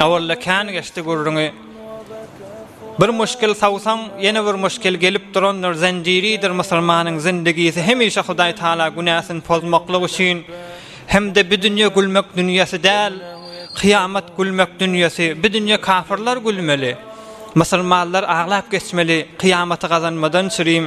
Owalda kän geçdi gürrüňi. Bir muşkil sawsaň, ýene bir muşkil gelip durandyr, zenjiridir musulmanyň zindigisi hemişe Hudaý Taala günäsini pozmaklyk üçin. Hem-de bi dünýe gülmek dünýesi däl, kyýamat gülmek dünýesi. Bi dünýe kafyrlar gülmeli. Musulmanlar aglap geçmeli, kyýamaty gazanmadan çürim.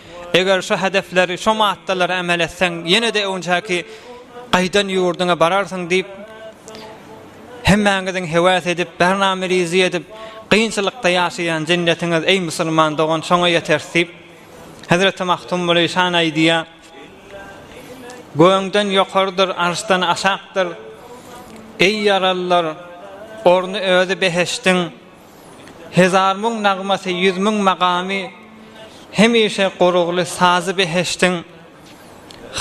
Eger şu hedefleri, şu maddalary emel etseň, ýene-de öňjäki gaýdan ýurduňa bararsyň diýip, hemmäňiziň hewas edip, bername rizi edip, gynçylykda ýaşaýan jennetiňiz, eý musulman dogan, şoňa ýeteris diýip, Hezreti Magtym Muly şan aýdýar, Gögden ýokarydyr, arşdan aşakdyr, eý ýaralylar, orny özi behişdiň, Hezar müň nagmasy, ýüz müň magamy, Hemişe goragly sazy beheştiň.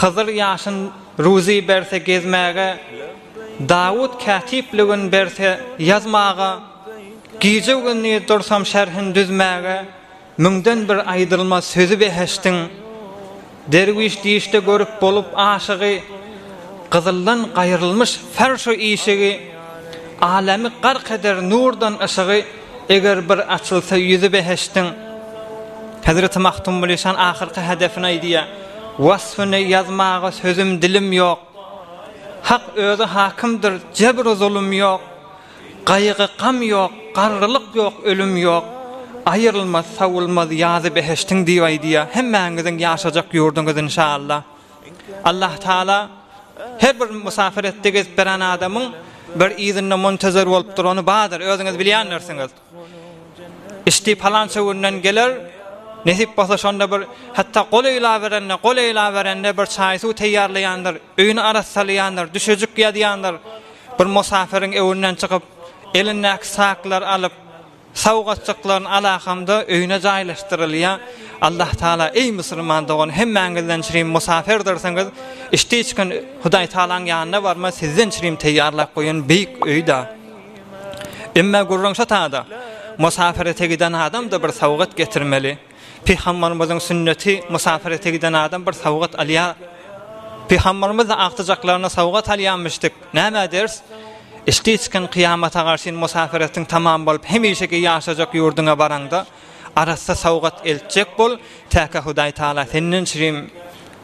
Hyzyr ýaşyn ruzy berse gezmäge, Dawut kätipligin berse ýazmaga, Gije-gündiz dursam şerhin düzmäge, Müňden bir aýdylmaz sözi behişdiň, Derwüş dişde görüp bolup aşygy, Gyzyldan gaýrylmyş ferş-u işigi, Alemi gark eder nurdan yşygy, Eger bir açylsa ýüzi behişdiň. Hezreti Magtym Gulişan ahyrky hedefini aýdýar, Wasfyny ýazmaga sözüm dilim ýok, Hak özi hakymdyr jebr-u zulum ýok, Gaýgy-gam ýok, garrylyk ýok, ölüm ýok, Aýrylmaz, sowulmaz ýazy behiştiň diýip aýdýar. Hemmäňiziň ýaşajak ýurduňyz inşallah. Allah Taala her bir musapir etdi gezip beren adamyň bir yzynda muntezer bolup durany bardyr, özüňiz bilýändirsiňiz. Isti palança günden geler, nesip bolsa şonda bir hatda gol eýläberende, gol eýläberende bir çaý-suw teýýarlaýandyr, öýüni arassalaýandyr, düşejik ýazýandyr, bir musapyryň öýünden çykyp, elindäki saklary alyp, sowgatjyklaryny alakamda öýüne jaýlaşdyrylýar. Allah Taala, eý musulman dogan, hemmäňizden çirim musapyrdyrsňyz, içdi-içgin Hudaý Taalaň ýanyna barma, sizden çirim teýýarlap goýan beýik öýdä. Emme gürrüňşa tada, musapyrete giden adam-da bir sowgat getirmeli. Pygambarymyzyň sünneti, musapyrete giden adam bir sowgat alýar. Pygambarymyz-da agtyjaklaryna sowgat alýarmyşdyk. Näme ders? Işdi çykan kyýamata garşyn musapyretiň tamam bolup, hemişeki ýaşajak ýurduňa baraňda, arassa sowgat eltjek bol, täke Hudaýtagala senden çirim